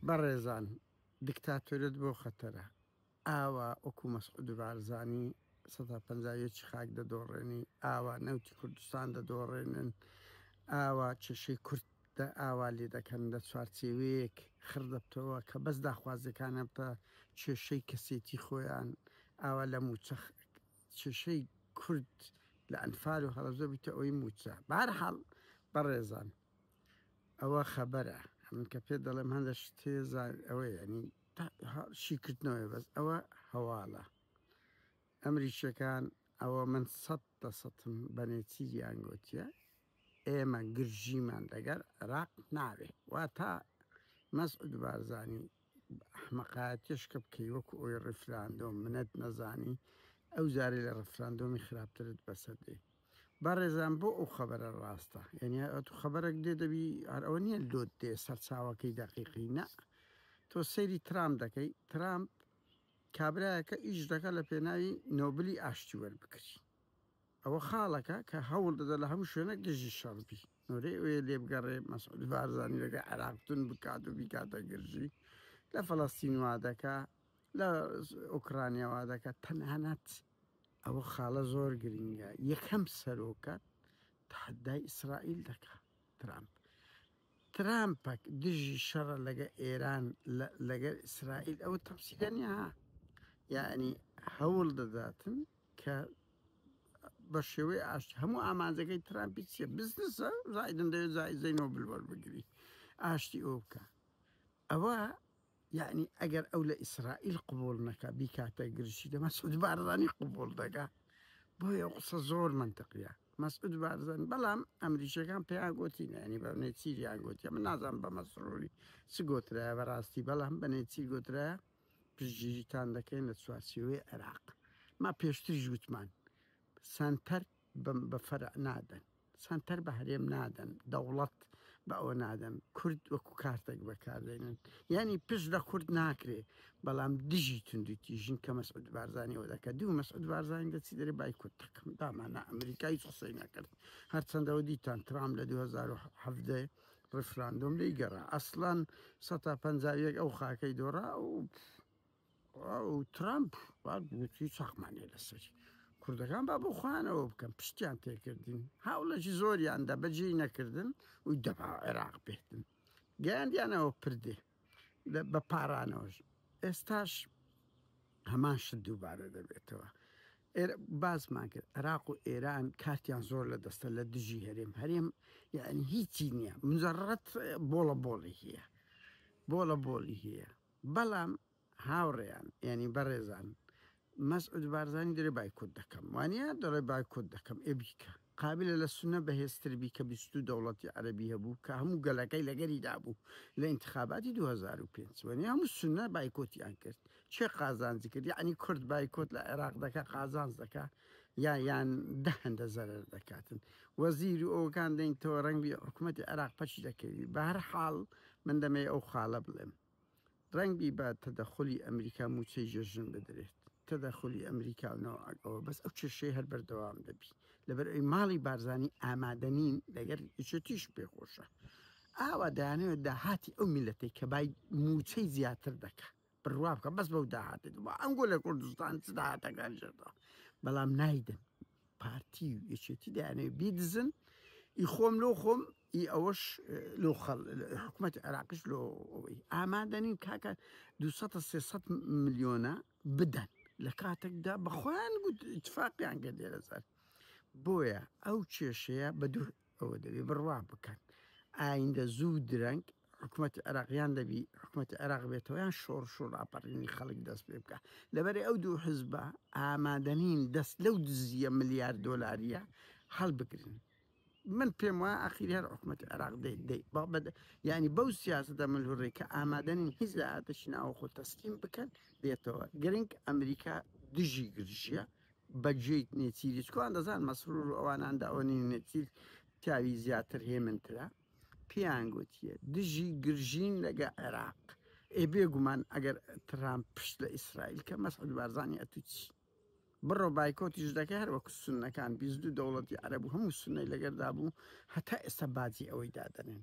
بەڕێزان دکتاتۆریەت بۆ خەتەرە ئاوا وەکو مەسعود بارزانی سەدا پەنجا یەکی خاک دەدۆڕێنی ئاوا نەوتی کوردستان دەدۆڕێنن ئاوا کێشەی کورد دە ئاوا لێ دەکەن لە چوارچێوەیەک خڕ دەبتەوە کە بەس داخوازیەکانە بتە کێشەی کەسێتی خۆیان ئاوا لە موچە کێشەی کورد لە ئەنفال و هەڵەزۆ بیتە ئەوی موچە بارحاڵ بەڕێزان ئەوە خەبەرە من کە پێت دەڵێم هەندە شتێ ئەوە ینی شیکردنەوەی بەس ئەوە هەواڵە ئەمریکیەکان ئەوە من سەد دە سەتم بەنێتیریان گوتیە ئێمە گرژیمان دەگەر عێراق ناوێ وا تا مەسعود بارزانانی ئەحمەقایەتیش کە بکەی وەکو ئەوی ڕیفراندۆم منت نەزانی ئەو جارەی لە ڕیفراندۆمی خراپترت بەسەر دێ بەڕێزان بۆ ئەو خەبەرە ڕاستە یعنی ئەتو خەبەرەک دێ دەبی هەر ئەوە نییە لۆت دێ سەرچاوەکەی دەقیقی نە تۆ سەیری ترامپ دەکەی ترامپ کابراەکە ئیش دەکە لە پێناوی نۆبلی ئاشتی وەربکری ئەوە خاڵەکە کە هەوڵ دەدا لە هەموو شوێنەک دژی شەڕ بی نۆرێ ئەوێ لێ بگەڕێ مەسعود بارزانی لەگەڵ عێراق تون بکات و بیکاتە گرژی لە فەڵەستین وا دەکا لە ئۆکرانیا وا دەکات تەنانەت ئەوە خاڵە زۆر گرنگە یەکەم سەرۆکە تحدای ئیسرائیل دەکا ترامپ ترامپەک دژی شەڕە لەگە ئێران لەگەر ئیسرائیل ئەوە تەمسیلەنیا یعنی هەوڵ دەداتن کە بە شێوەی ئاشتی هەموو ئامانجەکەی ترامپی چیە بزنسە زایدن دەوێت زایزەی نۆبل وەربگری ئاشتی ئەو بکە ئەوە یعنی ئەگەر ئەو لە ئیسرائیل قوبول نەکە بیکاتە گرژی دە مەسعود بارزانی قوبول دەگا بۆیە قسە زۆر منتەقیە مەسعود بارزان بەڵام ئەمریکیەکان پێیان گوتی نانی بە نێچیریان گوتیە من نازان بە مەسرۆری چ گوترایە بەڕاستی بەڵام بە نێچی گوترە پشتگیریتان دەکەین لە چوارچێوەی عێراق. ما پێشتریش وتمان سەنتەر بە فەرع نادەن، سەنتەر بە هەرێم نادەن، دەوڵەت بە ئەوە نادەن، کورد وەکو کارتێک بەکاردێنن. یانی پشت لە کورد ناکرێ، بەڵام دژی توندوتیژین کە مەسعود بارزانی ئەوە دەکا. دوو مەسعود بارزانی دەچی دەرێ بایکۆت دەکەم، دامانا ئەمریکا هیچ قسەی نەکرد. هەرچەندەوە دیتان ترامپ لە دوو هەزار و حەڤدە ڕیفراندۆم لێی گەڕا ئەسڵەن سەد تا پەنجا و یەک ئەو خاکەی دۆڕا و ئەو ترامپ وا گوتی چەقمانێ لەسەری کوردەکان با بۆ خۆیانەوە بکەن پشتیان تێکردین هاوڵەکی زۆریاندا بەجێی نەکردن و دەبا عێراق بێتن گەیاندیانەوە پردێ بە پارانەوەش ئێستاش هەمان شت دووبارە دەبێتەوە باسمان کرد عراق و ئێران کارتیان زۆر لە دەستە لە دژی هەرێم هەرێم یعنی هیچی نییە مزەڕەت بۆڵە بۆڵی هەیە بۆڵە بۆڵی هەیە بەڵام هاوڕێیان ینی بەڕێزان مەسعود بارزانی دەلێ بایکۆت دەکەم وانیە دەڵێ بایکۆت دەکەم ئێ بیکە قابلە لە سنە بەهێزتر بیکە بیست و دوو دەوڵەتی عەرەبی هەبوو کە هەموو گەلەکەی لەگەری دابوو لە ئینتخاباتی دوو هەزار و پێنج وەنی هەموو سنە بایکۆتیان کرد چێ قازانجی کرد یعنی کورد بایکۆت لە عێراق دەکە قازانج دەکە یا یان دە هەندە زەرەر دەکاتن وەزیر و ئەوکان دەینتەوە ڕەنگی حکوومەتی عێراق پەچی دەکەوی بە هەر حاڵ من دەمەی ئەو خاڵە بڵێم رەنگبی با تەدەخولی ئەمریکا موچەی جەژن بدرێت تەدەخولی ئەمریکا و ناوئاگ ئەوە بەس ئەو کێشەی هەر بەردەوام دەبی لەبەر ئەوی ماڵی بارزانی ئامادەنین لەگەر یچێتیش پێ خۆشە ئاوا دانەوێت داهاتی ئەو میلەتەی کە بای موچەی زیاتر دەکە بڕوا بکە بەس بەو داهاتێت بۆ ئەنگۆ لە کوردستان چ داهاتەکان ژێردەوە بەڵام نایدن پارتی و یەکێتی دەیانەوێت بیدزن ئی خۆم لۆ خۆم ئی ئەوەش لۆ خەڵ حکومەتی عێراقیش لۆ ئەوەی ئامادە نین کاکە دوو سەد تا سێ سەد ملیۆنە بدەن لە کاتێکدا بە خۆیان گوت ئیتفاقیان کرد لێرە سەر بۆیە ئەو کێشەیە بە دوو ئەوە دەبێ بڕوا بکەن ئایندە زوو درەنگ حکومەتی عێراقیان دەبی حکومەتی عێراق بێتەوەیان شۆڕش و ڕاپەڕینی خەڵک دەست پێ بکە لەبەرێ ئەو دوو حزبە ئامادەنین دەست لەو دزیە ملیار دۆلاریە هەڵبگرن من پێم وایە ئاخیر هەر حکوومەتی عێراق دێت دێت با بەد یعنی بەو سیاستە ملهوڕی کە ئامادەنین هیچ لە ئاتەشی ناوە خۆ تەسلیم بکەن دێتەوە گرنگ ئەمریکا دژی گرژیە بەجێیت نێچیری چکوان دەزان مەسرور و ئەواناندا ئەوە نین نێچیر پیاوی زیاتر هێمنترە پیان گوتیە دژی گرژین لەگە عێراق ئێ بێگومان ئەگەر ترام پشت لە ئیسرائیل کە مەسعود بارزانانی ئەتوچی بڕۆ بایکۆتیش دەکەی هەر وەکو سونەکان بیست دوو دەوڵەتی عەرەب و هەموو سونەی لەگەردا بوو هەتا ئێستا باجی ئەوەی دادەنێن.